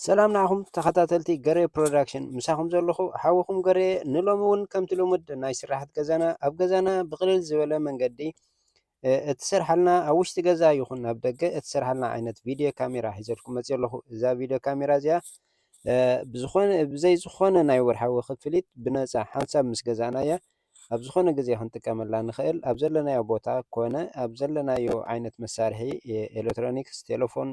ሰላም ንዓኹም ተኸታተልቲ ገሬ ፕሮዳክሽን ምሳኹም ዘለኹ ሓውኹም ገሬ ንሎሚ እውን ከምቲ ልሙድ ናይ ስራሕት ገዛና ኣብ ገዛና ብቕልል ዝበለ መንገዲ እትሰርሓልና ኣብ ውሽጢ ገዛ ይኹን ኣብ ደገ እትሰርሓልና ዓይነት ቪድዮ ካሜራ ሒዘልኩም መፅእ ኣለኹ እዛ ቪድዮ ካሜራ እዚኣ ብዝኾነ ብዘይ ዝኾነ ናይ ወርሓዊ ክፍሊት ብነፃ ሓንሳብ ምስ ገዛእና እያ ኣብ ዝኾነ ግዜ ክንጥቀመላ ንኽእል ኣብ ዘለናዮ ቦታ ኮነ ኣብ ዘለናዮ ዓይነት መሳርሒ ኤሌክትሮኒክስ ቴሌፎን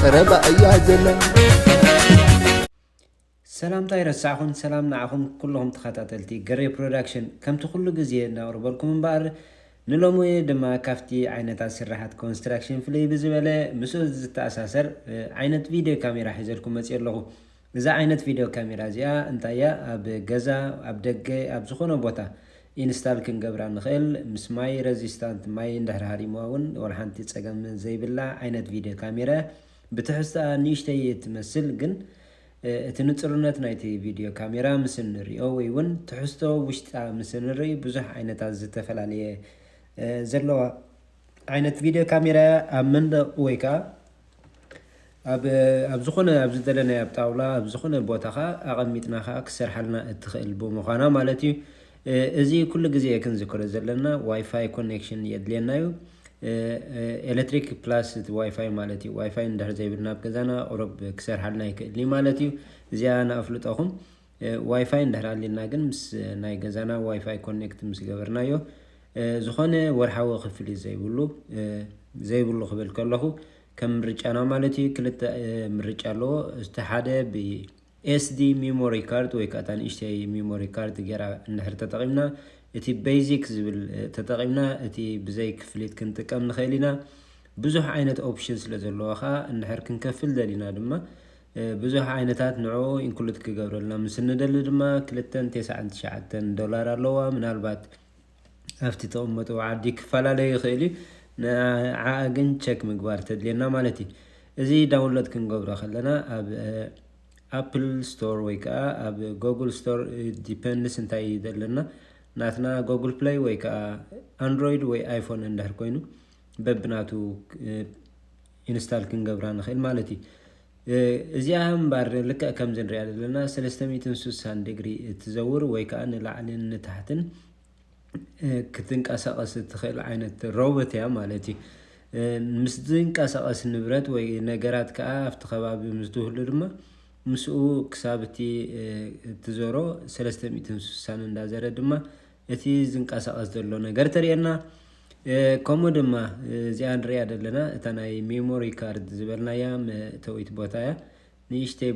ቀረባ እያ ዘላ ሰላምታ ይረሳዕኹም ሰላም ንዓኹም ኩልኹም ተኸታተልቲ ገሬ ፕሮዳክሽን ከምቲ ኩሉ ግዜ ነቕርበልኩም እምበኣር ንሎሚ ድማ ካብቲ ዓይነታት ስራሓት ኮንስትራክሽን ፍልይ ብዝበለ ምስኡ ዝተኣሳሰር ዓይነት ቪድዮ ካሜራ ሒዘልኩም መፅእ ኣለኹ እዛ ዓይነት ቪድዮ ካሜራ እዚኣ እንታይ እያ ኣብ ገዛ ኣብ ደገ ኣብ ዝኾነ ቦታ ኢንስታል ክንገብራ ንኽእል ምስ ማይ ረዚስታንት ማይ እንድሕር ሃሪምዋ እውን ዋላ ሓንቲ ፀገም ዘይብላ ዓይነት ቪድዮ ካሜራ እያ ብትሕዝትኣ ንእሽተይ እትመስል ግን እቲ ንፁርነት ናይቲ ቪድዮ ካሜራ ምስ እንሪኦ ወይ እውን ትሕዝቶ ውሽጣ ምስ እንርኢ ብዙሕ ዓይነታት ዝተፈላለየ ዘለዋ ዓይነት ቪድዮ ካሜራ እያ ኣብ መንደቕ ወይ ከዓ ኣብ ዝኾነ ኣብ ዝደለናዮ ኣብ ጣውላ ኣብ ዝኾነ ቦታ ከዓ ኣቐሚጥና ከዓ ክሰርሓልና እትኽእል ብምዃና ማለት እዩ እዚ ኩሉ ግዜ ክንዝክሮ ዘለና ዋይፋይ ኮኔክሽን የድልየና እዩ ኤሌክትሪክ ፕላስ እቲ ዋይፋይ ማለት እዩ ዋይፋይ እንድሕር ዘይብልና ኣብ ገዛና ቁሩብ ክሰርሓልና ይክእል እዩ ማለት እዩ እዚኣ ንኣፍልጠኹም ዋይፋይ እንድሕር ኣልዩና ግን ምስ ናይ ገዛና ዋይፋይ ኮኔክት ምስ ገበርናዮ ዝኾነ ወርሓዊ ክፍሊት ዘይብሉ ዘይብሉ ክብል ከለኹ ከም ምርጫና ማለት እዩ ክልተ ምርጫ ኣለዎ እቲ ሓደ ብኤስዲ ሚሞሪ ካርድ ወይ ከዓ እታ ንእሽተይ ሚሞሪ ካርድ ጌራ እንድሕር ተጠቒምና እቲ ቤዚክ ዝብል ተጠቒምና እቲ ብዘይ ክፍሊት ክንጥቀም ንኽእል ኢና ብዙሕ ዓይነት ኦፕሽን ስለ ዘለዋ ከዓ እንድሕር ክንከፍል ደሊና ድማ ብዙሕ ዓይነታት ንዕኡ ኢንክሉድ ክገብረልና ምስ እንደሊ ድማ ክልተን ቴስዓን ትሽዓተን ዶላር ኣለዋ ምናልባት ኣብቲ ተቐመጡ ዓዲ ክፈላለዩ ይኽእል እዩ ንዓኣ ግን ቸክ ምግባር ተድልየና ማለት እዩ እዚ ዳውንሎድ ክንገብሮ ከለና ኣብ ኣፕል ስቶር ወይ ከዓ ኣብ ጎግል ስቶር ዲፐንድስ እንታይ እዩ ዘለና ናትና ጎግል ፕላይ ወይ ከዓ ኣንድሮይድ ወይ ኣይፎን እንድሕር ኮይኑ በብናቱ ኢንስታል ክንገብራ ንክእል ማለት እዩ። እዚኣ እምበር ልክዕ ከምዚ ንሪኣ ዘለና ሰለስተ ሚእትን ስሳን ዲግሪ እትዘውር ወይ ከዓ ንላዕልን ንታሕትን ክትንቀሳቐስ እትኽእል ዓይነት ሮቦት እያ ማለት እዩ። ምስ ዝንቀሳቐስ ንብረት ወይ ነገራት ከዓ ኣብቲ ከባቢ ምስ ዝህሉ ድማ ምስኡ ክሳብ እቲ እትዞሮ ሰለስተ ሚእትን ስሳን እንዳዘረ ድማ እቲ ዝንቀሳቀስ ዘሎ ነገር ተርእየና ከምኡ ድማ እዚኣ ንሪኣ ዘለና እታ ናይ ሜሞሪ ካርድ ዝበልናያ መእተዊት ቦታ እያ ንእሽተይ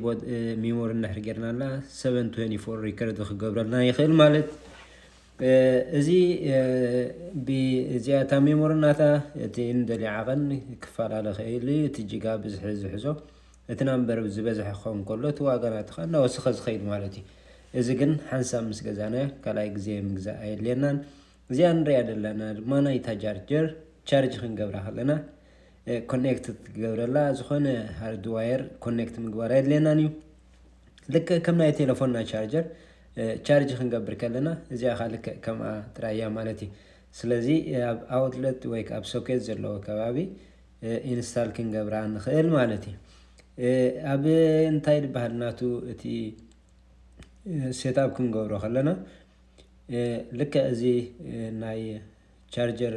ሜሞሪ እንድሕር ጌርናላ 724 ሪከርድ ክገብረልና ይኽእል ማለት እዚ ብእዚኣ እታ ሜሞሪ ናታ እቲ እንደልዮ ዓቐን ክፈላለ ኽእል እዩ እቲ ጅጋ ብዝሒ ዝሕዞ እቲ ናምበር ዝበዝሐ ክኸውን ከሎ እቲ ዋጋ ናትኻ እናወሰኸ ዝኸይድ ማለት እዩ። እዚ ግን ሓንሳብ ምስ ገዛናዮ ካልኣይ ግዜ ምግዛእ ኣየድልየናን። እዚኣ ንሪኣ ዘለና ድማ ናይታ ጃርጀር ቻርጅ ክንገብራ ከለና ኮኔክት ትገብረላ ዝኾነ ሃርድ ዋየር ኮኔክት ምግባር ኣየድልየናን እዩ። ልክዕ ከም ናይ ቴሌፎንና ቻርጀር ቻርጅ ክንገብር ከለና እዚኣ ካ ልክዕ ከምኣ ጥራይ እያ ማለት እዩ። ስለዚ ኣብ ኣውትለት ወይ ኣብ ሶኬት ዘለዎ ከባቢ ኢንስታል ክንገብራ ንኽእል ማለት እዩ ኣብ እንታይ ድበሃል ናቱ እቲ ሴትኣብ ክንገብሮ ከለና ልክዕ እዚ ናይ ቻርጀር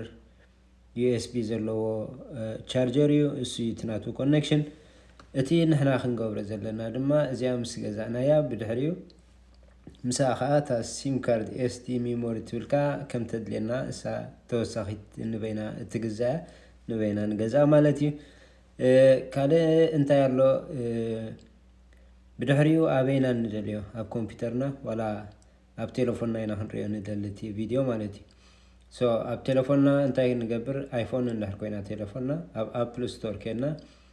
ዩኤስቢ ዘለዎ ቻርጀር እዩ እሱ እቲ ናቱ ኮኔክሽን እቲ ንሕና ክንገብሮ ዘለና ድማ እዚኣ ምስ ገዛእናያ ብድሕሪኡ ምስኣ ከኣ እታ ሲም ካርድ SD ሚሞሪ ትብል ከኣ ከም ተድልየና እሳ ተወሳኺት ንበይና እትግዛእ እያ ንበይና ንገዝኣ ማለት እዩ ካልእ እንታይ ኣሎ ብድሕሪኡ ኣበይና ንደልዮ ኣብ ኮምፒውተርና ዋላ ኣብ ቴሌፎንና ኢና ክንሪኦ ንደሊ እቲ ቪድዮ ማለት እዩ ሶ ኣብ ቴሌፎንና እንታይ ንገብር ኣይፎን እንድሕር ኮይና ቴሌፎንና ኣብ ኣፕል ስቶር ኬድና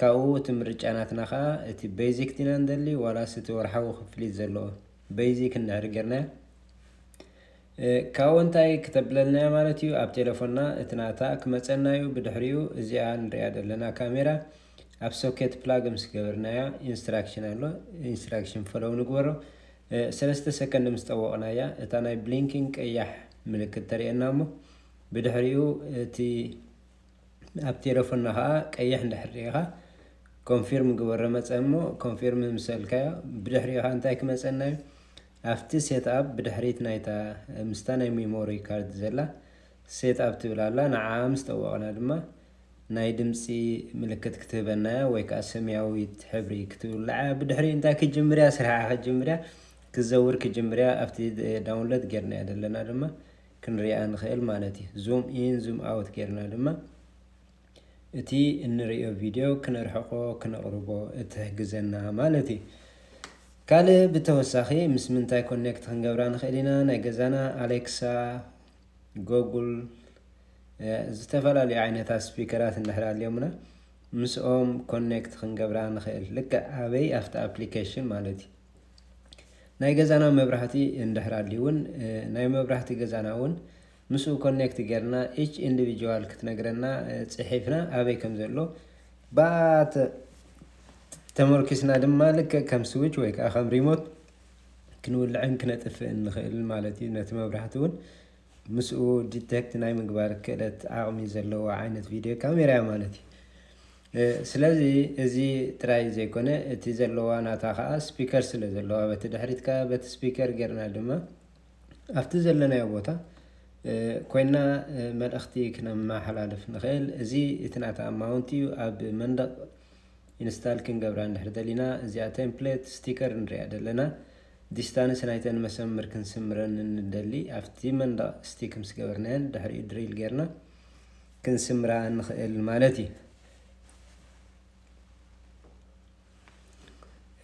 ካብኡ እቲ ምርጫ ናትና ከኣ እቲ በይዚክ ዲና ንደሊ ዋላስ እቲ ወርሓዊ ክፍሊት ዘለዎ በይዚክ እንድሕሪ ጌርናዮ ካብኡ እንታይ ክተብለልና እያ ማለት እዩ ኣብ ቴለፎንና እቲ ናታ ክመጸና እዩ ብድሕሪኡ እዚኣ ንሪኣ ዘለና ካሜራ ኣብ ሶኬት ፕላግ ምስ ገበርናያ ኢንስትራክሽን ኣሎ ኢንስትራክሽን ፈለው ንግበሮ ሰለስተ ሰከንድ ምስ ጠወቕናያ እታ ናይ ብሊንኪን ቀያሕ ምልክት ተርእየና እሞ ብድሕሪኡ እቲ ኣብ ቴለፎና ከኣ ቀይሕ እንድሕር ሪኢኻ ኮንፊርም ግበሮ መጸ እሞ ኮንፊርም ምስ በልካዮ ብድሕሪኡ ከኣ እንታይ ክመጸና እዩ ኣብቲ ሴት ኣፕ ብድሕሪት ናይታ ምስታ ናይ ሜሞሪ ካርድ ዘላ ሴት ኣፕ ትብል ኣላ ንዓኣ ምስ ጠወቕና ድማ ናይ ድምጺ ምልክት ክትህበና እያ ወይ ከኣ ሰማያዊት ሕብሪ ክትውልዕ እያ ብድሕሪኡ እንታይ ክጅምር እያ ስርሓ ክጅምር እያ ክትዘውር ክጅምር እያ ኣብቲ ዳውንሎድ ጌርናዮ ዘለና ድማ ክንሪኣ ንኽእል ማለት እዩ። ዙም ኢን ዙም ኣውት ጌርና ድማ እቲ እንርእዮ ቪድዮ ክነርሕቆ ክነቕርቦ እትሕግዘና ማለት እዩ። ካልእ ብተወሳኺ ምስ ምንታይ ኮኔክት ክንገብራ ንኽእል ኢና? ናይ ገዛና ኣሌክሳ፣ ጎጉል ዝተፈላለዩ ዓይነታት ስፒከራት እንድሕር ኣልዮምና ምስኦም ኮኔክት ክንገብራ ንኽእል ልክዕ ኣበይ ኣብቲ ኣፕሊኬሽን ማለት እዩ። ናይ ገዛና መብራህቲ እንድሕር ኣልዩ ውን ናይ መብራህቲ ገዛና ውን ምስኡ ኮኔክት ጌርና ኢች ኢንዲቪጅዋል ክትነግረና ጽሒፍና ኣበይ ከም ዘሎ ብኣ ተመርኪስና ድማ ልክዕ ከም ስዊች ወይ ከዓ ከም ሪሞት ክንውልዕን ክነጥፍእን ንኽእል ማለት እዩ ነቲ መብራህቲ ውን ምስኡ ዲቴክት ናይ ምግባር ክእለት ዓቕሚ ዘለዎ ዓይነት ቪድዮ ካሜራ ማለት እዩ ስለዚ እዚ ጥራይ ዘይኮነ እቲ ዘለዋ ናታ ከኣ ስፒከር ስለ ዘለዋ በቲ ድሕሪት ከኣ በቲ ስፒከር ጌርና ድማ ኣብቲ ዘለናዮ ቦታ ኮይና መልእኽቲ ክነመሓላልፍ ንኽእል። እዚ እቲ ናታ ኣማውንት እዩ። ኣብ መንደቕ ኢንስታል ክንገብራ እንድሕር ደሊና እዚኣ ቴምፕሌት ስቲከር ንሪኣ ደለና። ዲስታንስ ናይተን መሰምር ክንስምረን እንደሊ ኣብቲ መንደቕ ስቲክ ምስ ገበርናየን ድሕሪኡ ድሪል ጌርና ክንስምራ ንኽእል ማለት እዩ።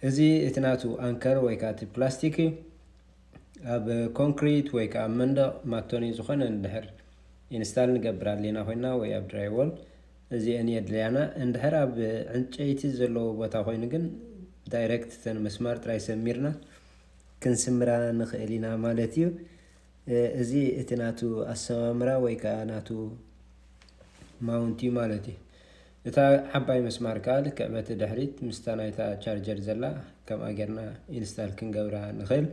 እዚ እቲ ናቱ ኣንከር ወይ ከዓ እቲ ፕላስቲክ እዩ። ኣብ ኮንክሪት ወይ ከዓ ኣብ መንደቕ ማቶኒ ዝኾነ እንድሕር ኢንስታል ንገብር ኣሊና ኮይና ወይ ኣብ ድራይዎል እዚአን የድልያና። እንድሕር ኣብ ዕንጨይቲ ዘለዎ ቦታ ኮይኑ ግን ዳይሬክት እተን መስማር ጥራይ ሰሚርና ክንስምራ ንኽእል ኢና ማለት እዩ። እዚ እቲ ናቱ ኣሰማምራ ወይ ከኣ ናቱ ማውንት እዩ ማለት እዩ። እታ ዓባይ መስማር ከኣ ልክዕ በቲ ድሕሪት ምስታ ናይታ ቻርጀር ዘላ ከምኣ ጌርና ኢንስታል ክንገብራ ንኽእል።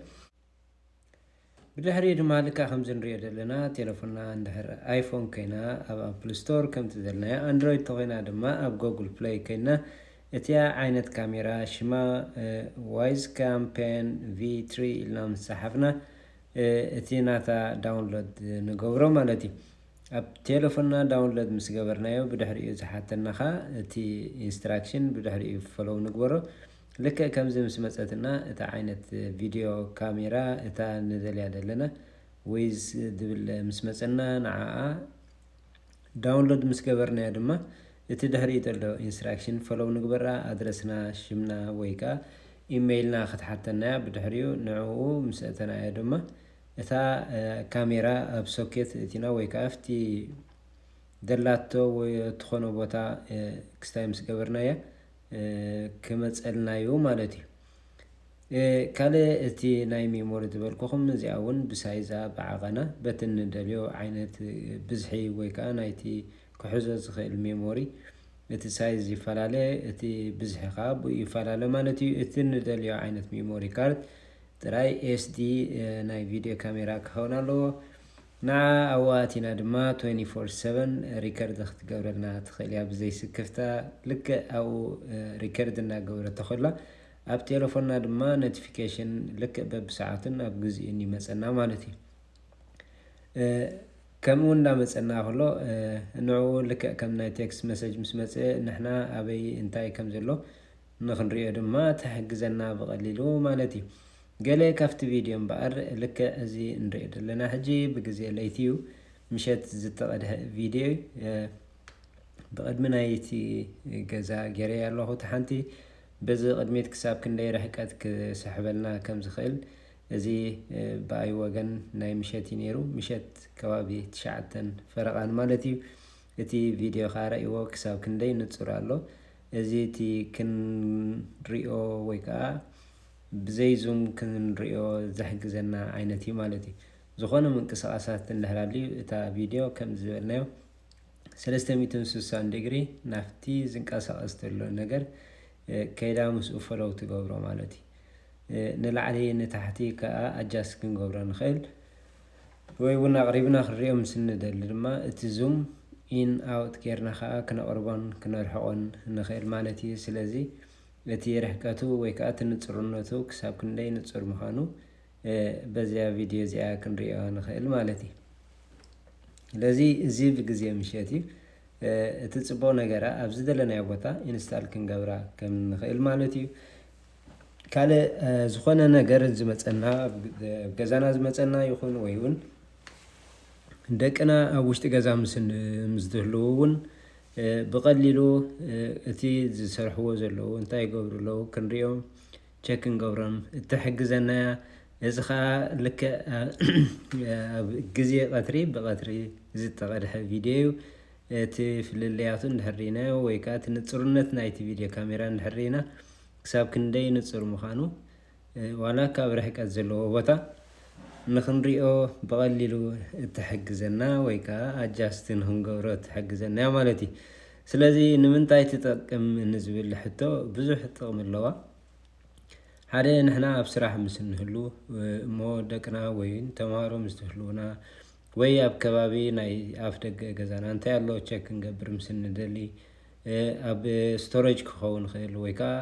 ብድሕሪኡ ድማ ልክዕ ከምዚ ንሪኦ ዘለና ቴለፎንና እንድሕር ኣይፎን ኮይና ኣብ ኣፕል ስቶር ከምቲ ዘልናያ ኣንድሮይድ ተኾይና ድማ ኣብ ጎግል ፕለይ ኮይና እቲያ ዓይነት ካሜራ ሽማ ዋይዝ ካምፔን ቪ ትሪ ኢልና ምስ ጸሓፍና እቲ ናታ ዳውንሎድ ንገብሮ ማለት እዩ ኣብ ቴለፎንና ዳውንሎድ ምስ ገበርናዮ ብድሕሪኡ ዝሓተና ከኣ እቲ ኢንስትራክሽን ብድሕሪኡ ፈሎው ንግበሮ ልክዕ ከምዚ ምስ መጸትና እታ ዓይነት ቪድዮ ካሜራ እታ ንደልያ ዘለና ወይዝ ዝብል ምስ መጸና ንዓኣ ዳውንሎድ ምስ ገበርናዮ ድማ እቲ ድሕሪኡ ዘሎ ኢንስትራክሽን ፈሎው ንግበራ ኣድረስና ሽምና ወይ ከኣ ኢመይልና ክትሓተናያ ብድሕሪኡ ንዕኡ ምስ ኣእተናዮ ድማ እታ ካሜራ ኣብ ሶኬት እቲና ወይ ከኣ ኣብቲ ደላቶ ወይ እትኾኖ ቦታ ክስታይ ምስ ገበርናያ ክመጸልና እዩ ማለት እዩ ካልእ እቲ ናይ ሜሞሪ ዝበልኩኹም እዚኣ እውን ብሳይዛ ብዓቐና በቲ ንደልዮ ዓይነት ብዝሒ ወይ ከዓ ናይቲ ክሕዞ ዝኽእል ሜሞሪ እቲ ሳይዝ ይፈላለ እቲ ብዝሒ ከዓ ብኡ ይፈላለ ማለት እዩ። እቲ ንደልዮ ዓይነት ሜሞሪ ካርድ ጥራይ ኤስዲ ናይ ቪድዮ ካሜራ ክኸውን ኣለዎ። ንዓ ኣብኡ ኣቲና ድማ 24/7 ሪከርድ ክትገብረልና ትኽእል እያ ብዘይስክፍታ ልክዕ ኣብኡ ሪከርድ እናገበረቶ ከላ ኣብ ቴለፎንና ድማ ኖቲፊኬሽን ልክዕ በብሰዓቱን ኣብ ግዚኡን ይመጸና ማለት እዩ። ከምኡ እውን እንዳመጸና ከሎ ንዕኡ ልክዕ ከም ናይ ቴክስት መሰጅ ምስ መጸ ንሕና ኣበይ እንታይ ከም ዘሎ ንክንሪኦ ድማ ትሕግዘና ብቐሊሉ ማለት እዩ። ገለ ካብቲ ቪድዮ እምበኣር ልክዕ እዚ እንሪኦ ዘለና ሕጂ ብግዜ ለይቲ እዩ ምሸት ዝተቐድሐ ቪድዮ እዩ። ብቕድሚ ናይቲ ገዛ ገይረያ ኣለኹ እቲ ሓንቲ በዚ ቅድሚት ክሳብ ክንደይ ርሕቀት ክስሕበልና ከም ዝኽእል እዚ ብኣይ ወገን ናይ ምሸት እዩ ነይሩ ምሸት ከባቢ ትሽዓተን ፈረቓን ማለት እዩ እቲ ቪድዮ ከኣ ረእይዎ ክሳብ ክንደይ ንጹር ኣሎ እዚ እቲ ክንሪኦ ወይ ከኣ ብዘይ ዙም ክንሪኦ ዘሕግዘና ዓይነት እዩ ማለት እዩ ዝኾነ ምንቅስቓሳት እንድሕር ኣልዩ እታ ቪድዮ ከምዚ ዝበልናዮ ሰለስተ ሚእትን ስሳን ዲግሪ ናፍቲ ዝንቀሳቀስ ተሎ ነገር ከይዳ ምስኡ ፈለው ትገብሮ ማለት እዩ። ንላዕሊ ንታሕቲ ከኣ ኣጃስ ክንገብሮ ንክእል ወይ እውን ኣቕሪብና ክንሪኦ ምስ እንደሊ ድማ እቲ ዙም ኢን ኣውት ጌርና ከኣ ክነቕርቦን ክነርሕቖን ንክእል ማለት እዩ። ስለዚ እቲ ርሕቀቱ ወይ ከኣ እቲ ንጽርነቱ ክሳብ ክንደይ ንጹር ምዃኑ በዚኣ ቪድዮ እዚኣ ክንሪኦ ንኽእል ማለት እዩ ስለዚ እዚ ብግዜ ምሸት እዩ እቲ ፅቡቕ ነገራ ኣብ ዝደለናዮ ቦታ ኢንስታል ክንገብራ ከም ንኽእል ማለት እዩ ካልእ ዝኾነ ነገር ዝመፀና ገዛና ዝመፀና ይኹን ወይ እውን ደቅና ኣብ ውሽጢ ገዛ ምስዝህልው እውን ብቐሊሉ እቲ ዝሰርሕዎ ዘለዉ እንታይ ይገብሩ ኣለዉ ክንሪኦም ቸክ ክንገብሮም እትሕግዘና እያ። እዚ ከዓ ልክዕ ኣብ ግዜ ቀትሪ ብቀትሪ ዝተቐድሐ ቪድዮ እዩ። እቲ ፍልልያቱ እንድሕር ርኢናዮ ወይ ከዓ እቲ ንፁርነት ናይቲ ቪድዮ ካሜራ እንድሕር ርኢና ክሳብ ክንደይ ንፁር ምዃኑ ዋላ ካብ ርሕቀት ዘለዎ ቦታ ንክንሪኦ ብቐሊሉ እትሕግዘና ወይ ከኣ ኣጃስት ንክንገብሮ እትሕግዘና እያ ማለት እዩ። ስለዚ ንምንታይ ትጠቅም ንዝብል ሕቶ ብዙሕ ጥቕሚ ኣለዋ። ሓደ ንሕና ኣብ ስራሕ ምስ እንህሉ እሞ ደቅና ወይ ተምሃሮ ምስ ትህልውና ወይ ኣብ ከባቢ ናይ ኣፍ ደገ ገዛና እንታይ ኣሎ ቸክ ክንገብር ምስ እንደሊ ኣብ ስቶሬጅ ክኸውን ይኽእል ወይ ከዓ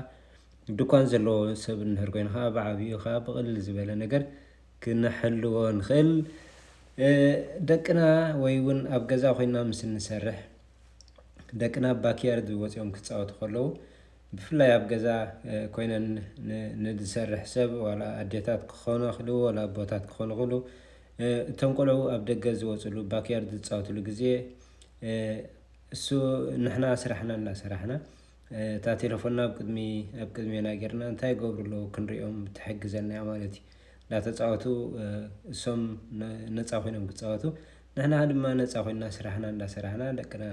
ድኳን ዘለዎ ሰብ እንድሕር ኮይና ከኣ ብዓቢኡ ከኣ ብቕልል ዝበለ ነገር ክንሕልዎ ንኽእል። ደቅና ወይ እውን ኣብ ገዛ ኮይና ምስ እንሰርሕ ደቅና ኣብ ባክያርድ ወጺኦም ክጻወቱ ከለዉ ብፍላይ ኣብ ገዛ ኮይነን ንዝሰርሕ ሰብ ዋላ ኣዴታት ክኾና ክሉ ዋላ ኣቦታት ክኾኑ ክሉ እቶም ቆልዑ ኣብ ደገ ዝወፅሉ ባክያርድ ዝፃወትሉ ግዜ እሱ ንሕና ስራሕና እናሰራሕና እታ ቴለፎና ኣብ ቅድሚ ኣብ ቅድሜና ጌርና እንታይ ይገብሩ ኣለዉ ክንሪኦም ትሕግዘና እያ ማለት እዩ እንዳተፃወቱ እሶም ነፃ ኮይኖም ክፃወቱ ንሕና ድማ ነፃ ኮይና ስራሕና እንዳሰራሕና ደቅና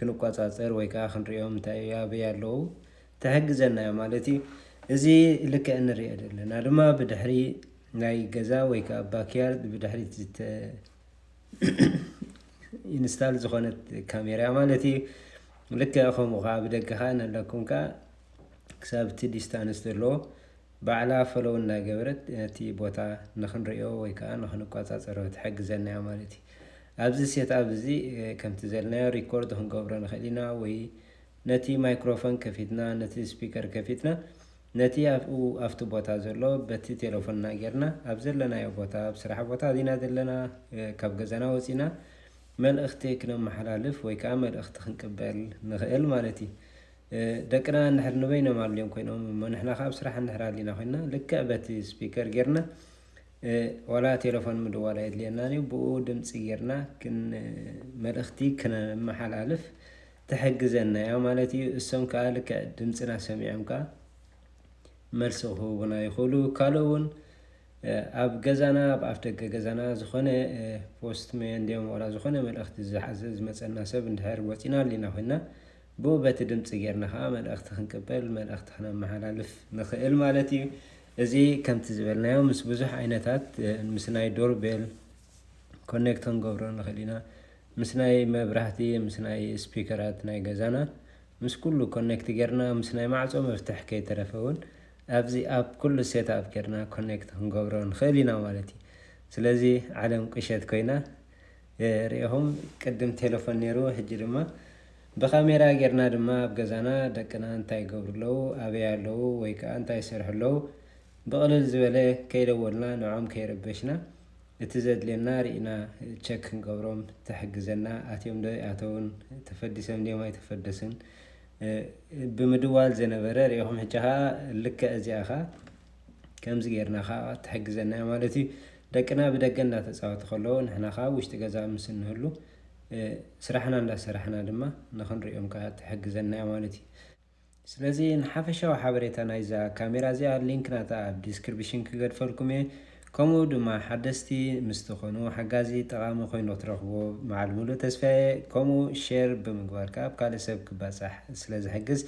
ክንቆፃፀር ወይ ከዓ ክንሪኦም እንታይ እዩ ኣበይ ኣለዉ ትሕግዘና እያ ማለት እዩ እዚ ልክዕ እንሪኦ ዘለና ድማ ብድሕሪ ናይ ገዛ ወይ ከዓ ባክያርድ ብድሕሪት ኢንስታል ዝኾነት ካሜራ ማለት እዩ ልክዕ ከምኡ ከዓ ብደገ ከዓ ነለኩም ከዓ ክሳብ እቲ ዲስታንስ ዘለዎ ባዕላ ፈለው እናገበረት ነቲ ቦታ ንክንሪኦ ወይ ከዓ ንክንቆፃፀሮ ትሕግዘና እያ ማለት እዩ ኣብዚ ሴት ኣብ እዚ ከምቲ ዘለናዮ ሪኮርድ ክንገብሮ ንኽእል ኢና ወይ ነቲ ማይክሮፎን ከፊትና ነቲ ስፒከር ከፊትና ነቲ ኣብኡ ኣብቲ ቦታ ዘሎ በቲ ቴለፎንና ጌርና ኣብ ዘለናዮ ቦታ ኣብ ስራሕ ቦታ ኣዚና ዘለና ካብ ገዛና ወጺና መልእኽቲ ክነመሓላልፍ ወይ ከኣ መልእኽቲ ክንቅበል ንኽእል ማለት እዩ። ደቅና እንድሕር ንበይኖም ኣልዮም ኮይኖም እሞ ንሕና ከኣ ኣብ ስራሕ እንድሕር ኣሊና ኮይንና ልክዕ በቲ ስፒከር ጌርና ዋላ ቴለፎን ምድዋል ኣየድልየናን እዩ ብኡ ድምጺ ጌርና ክን መልእኽቲ ክነመሓላልፍ ትሕግዘና እያ ማለት እዩ። እሶም ከኣ ልክዕ ድምጽና ሰሚዖም ከኣ መልሲ ክህቡና ይኽእሉ። ካልኦ እውን ኣብ ገዛና ኣብ ኣፍ ደገ ገዛና ዝኾነ ፖስት መን ድዮም ዋላ ዝኾነ መልእኽቲ ዝሓዘ ዝመጸና ሰብ እንድሕር ወጺና ኣሊና ኮይና ብኡ በቲ ድምፂ ጌርና ከዓ መልእኽቲ ክንቅበል መልእኽቲ ክነመሓላልፍ ንኽእል ማለት እዩ እዚ ከምቲ ዝበልናዮ ምስ ብዙሕ ዓይነታት ምስ ናይ ዶርቤል ኮኔክት ክንገብሮ ንኽእል ኢና ምስ ናይ መብራህቲ ምስ ናይ ስፒከራት ናይ ገዛና ምስ ኩሉ ኮኔክት ጌርና ምስ ናይ ማዕጾ መፍትሕ ከይተረፈ ውን ኣብዚ ኣፕ ኩሉ ሴት ኣፕ ጌርና ኮኔክት ክንገብሮ ንኽእል ኢና ማለት እዩ ስለዚ ዓለም ቁሸት ኮይና ሪኢኹም ቅድም ቴለፎን ኔሩ ሕጂ ድማ ብካሜራ ጌርና ድማ ኣብ ገዛና ደቅና እንታይ ይገብሩ ኣለዉ ኣበይ ኣለዉ ወይ ከኣ እንታይ ይሰርሑ ኣለዉ ብቕልል ዝበለ ከይደወልና ንዖም ከይረበሽና እቲ ዘድልየና ሪኢና ቸክ ክንገብሮም ተሕግዘና ኣትዮም ዶ ኣይኣተውን ተፈዲሶም ድዮም ኣይተፈደሱን ብምድዋል ዘነበረ ሪኢኹም ሕጂ ከኣ ልክዕ እዚኣ ከኣ ከምዚ ጌርና ከኣ ትሕግዘና እያ ማለት እዩ ደቅና ብደገ እንዳተፃወቱ ከለዉ ንሕና ከኣ ውሽጢ ገዛ ምስ እንህሉ ስራሕና እንዳሰራሕና ድማ ንክንሪኦም ከኣ ትሕግዘና እያ ማለት እዩ ስለዚ ንሓፈሻዊ ሓበሬታ ናይዛ ካሜራ እዚኣ ሊንክ ናታ ኣብ ዲስክርብሽን ክገድፈልኩም እየ ከምኡ ድማ ሓደስቲ ምስ ትኾኑ ሓጋዚ ጠቓሚ ኮይኑ ክትረኽብዎ በዓል ሙሉእ ተስፋ እየ ከምኡ ሼር ብምግባር ከኣ ኣብ ካልእ ሰብ ክባጻሕ ስለ ዝሕግዝ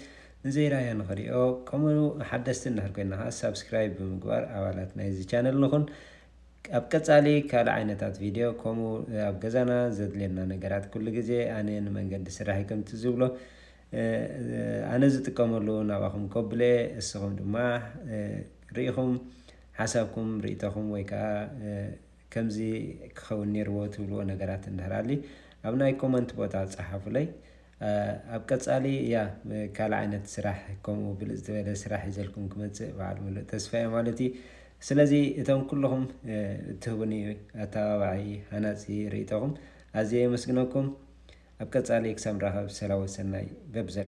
ንዘይራኣዮ ንኽሪኦ ከምኡ ሓደስቲ እንድሕር ኮይና ከኣ ሳብስክራይብ ብምግባር ኣባላት ናይዚ ቻነል ንኹን ኣብ ቀጻሊ ካልእ ዓይነታት ቪድዮ ከምኡ ኣብ ገዛና ዘድልየና ነገራት ኩሉ ግዜ ኣነ ንመንገዲ ስራሕይ ከምቲ ዝብሎ ኣነ ዝጥቀመሉ ናባኹም ኮብለ እስኹም ድማ ሪኢኹም ሓሳብኩም ሪኢቶኹም ወይ ከኣ ከምዚ ክኸውን ኔርዎ ትብልዎ ነገራት እንድሕር ኣሊ ኣብ ናይ ኮመንት ቦታ ጸሓፉለይ ኣብ ቀጻሊ እያ ካልእ ዓይነት ስራሕ ከምኡ ብልጽ ዝበለ ስራሕ ሒዘልኩም ክመጽእ በዓል ምሉእ ተስፋ እየ ማለት እዩ ስለዚ እቶም ኩልኹም እትህቡኒ ኣተባባዒ ሃናጺ ርእይቶኹም ኣዝየ የመስግነኩም ኣብ ቀጻሊ ክሳብ ንራኸብ ሰላወ ሰናይ በብዘለኩሞ።